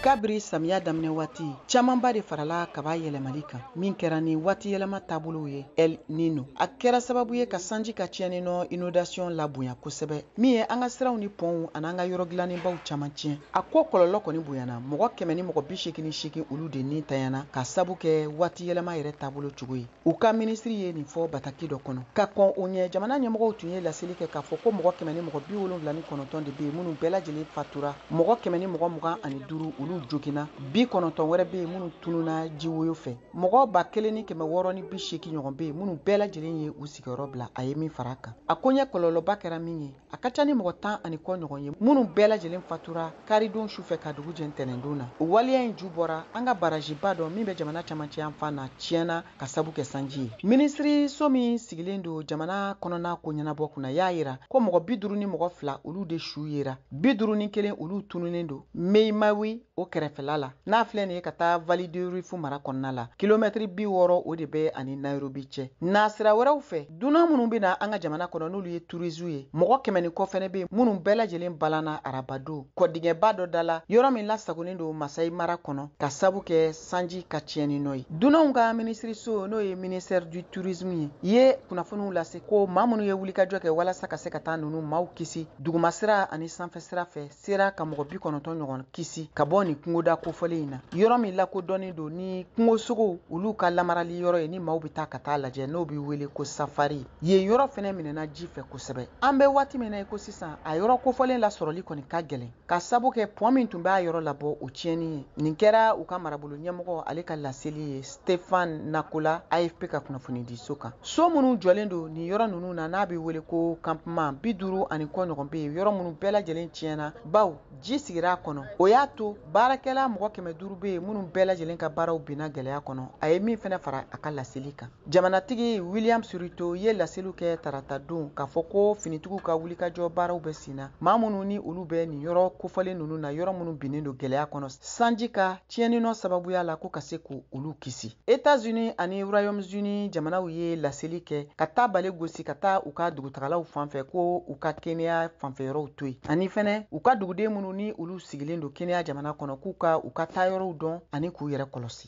kabiri samiya daminɛ waati camanba de farala kaba yɛlɛmali kan min kɛra ni waati yɛlɛma taabolow ye el nino a kɛra sababu ye ka sanji ka tiɲɛni nɔ inɔndasiyɔn labonya kosɛbɛ min ye an ka siraw ni pɔnw an'an ka yɔrɔ dilannenbaw caman tiɲɛ a ko kɔlɔlɔ kɔni bonyana mɔgɔ kɛmɛ ni mɔgɔ bi seegin ni seegin olu de ni tanyana k'a sabu kɛ waati yɛlɛma yɛrɛ taabolo cogo ye u ka minisiri ye nin fɔ bataki dɔ kɔnɔ ka kɔn o ɲɛ jamana ɲɛmɔgɔw tun ye laseli kɛ k'a fɔ ko mɔgɔ kɛmɛ ni mɔgɔ bi wolonfila ni kɔnɔntɔn de bɛ yen minnu bɛɛ lajɛlen fatura mɔgɔ kɛmɛ ni mɔgɔ mugan ani duuru olu joginna bi kɔnɔntɔn wɛrɛ bɛ yen minnu tununna jiwoyo fɛ mɔgɔ ba kelen ni kɛmɛ wɔɔrɔ ni bi seegin ɲɔgɔn bɛ yen minnu bɛɛ lajɛlen ye u sigiyɔrɔ bila a ye min fara a kan a koɲɛ kɔlɔlɔba kɛra min ye a ka ca ni mɔgɔ tan ani kɔ ɲɔgɔn ye minnu bɛɛ lajɛlen fatura karidon sufɛ ka dugu jɛ ntɛnɛndon na o waleya in ju bɔra an ka baraziba dɔ min bɛ jamana camancɛ yan fan na tiɲɛna k'a sabu kɛ sanji ye minisiriso min sigilen don jamana kɔnɔna ko ɲɛnabɔ kunna y'a yira ko mɔgɔ bi duuru ni mɔgɔ fila olu de su yera bi duuru ni kelen olu tununnen don mai mahiu o kɛrɛfɛla la n'a filɛ nin ye ka taa vallée du rift mara kɔnɔna la kilomɛtiri bi wɔɔrɔ o de bɛ a ni nairobi cɛ nasira wɛrɛw fɛ dunan minnu bɛ na an ka jamana kɔnɔ n'olu ye turisiw ye mɔgɔ kɛmɛ ni kɔ fɛnɛ bɛ yen minnu bɛɛ lajɛlen balanna arabadon kɔdingɛba dɔ da la yɔrɔ min lasagolen don masayi mara kɔnɔ k'a sabu kɛ sanji ka tiɲɛni nɔ ye dunanw ka minisiriso n'o ye ministère du tourisme ye ye kunnafoniw lase ko maa minnu ye wulikajɔ kɛ walasa ka se ka taa ninnu maaw kisi dugumasira ani sanfɛsira fɛ sera ka mɔgɔ bi kɔnɔntɔn ɲɔgɔn kisi ka bɔ nin kungoda kofɔlen in na yɔrɔ min lakodɔnnen don ni kungosogow olu ka lamarali yɔrɔ ye ni maaw bɛ taa ka taa lajɛ n'o bɛ wele ko safari yen yɔrɔ fɛnɛ minɛna ji fɛ kosɛbɛ an bɛ waati min na i ko sisan a yɔrɔ kofɔlen lasɔrɔli kɔni ka gɛlɛn k'a sabu kɛ pɔn min tun b'a yɔrɔ labɔ o tiɲɛni ye nin kɛra u ka marabolo ɲɛmɔgɔ ale ka laseli ye Stefan Nakola AFP ka kunnafoni di so kan. So minnu jɔlen don nin yɔrɔ ninnu na n'a bɛ wele ko campement bi duuru ani kɔ ɲɔgɔn bɛ yen yɔrɔ minnu bɛɛ lajɛlen tiɲɛna bawo ji sigira a kɔnɔ. O y'a to baarakɛla mɔgɔ kɛmɛ duuru bɛ yen minnu bɛɛ lajɛlen ka baaraw binna gɛlɛya kɔnɔ. A ye min fɛnɛ fara a ka laseli kan. Jamanatigi Williams Ruto ye laseliw kɛ taratadon k'a fɔ ko finitigiw ka wulikajɔ baaraw bɛ senna maa minnu ni olu bɛ nin yɔrɔ kofɔlen ninnu na yɔrɔ minnu binnen don gɛlɛya kɔnɔ. sanji ka tiɲɛninɔ sababuya la ko ka se k' olu kisi etats-unis ani royaume-uni jamanaw ye laseli kɛ ka taa bale gosi ka taa u ka dugutagalaw fanfɛ ko u ka kenya fanfɛyɔrɔw to yen ani fɛnɛ u ka duguden minnu ni olu sigilen don kenya jamana kɔnɔ k'u ka u ka taayɔrɔw dɔn ani k'u yɛrɛ kɔlɔsi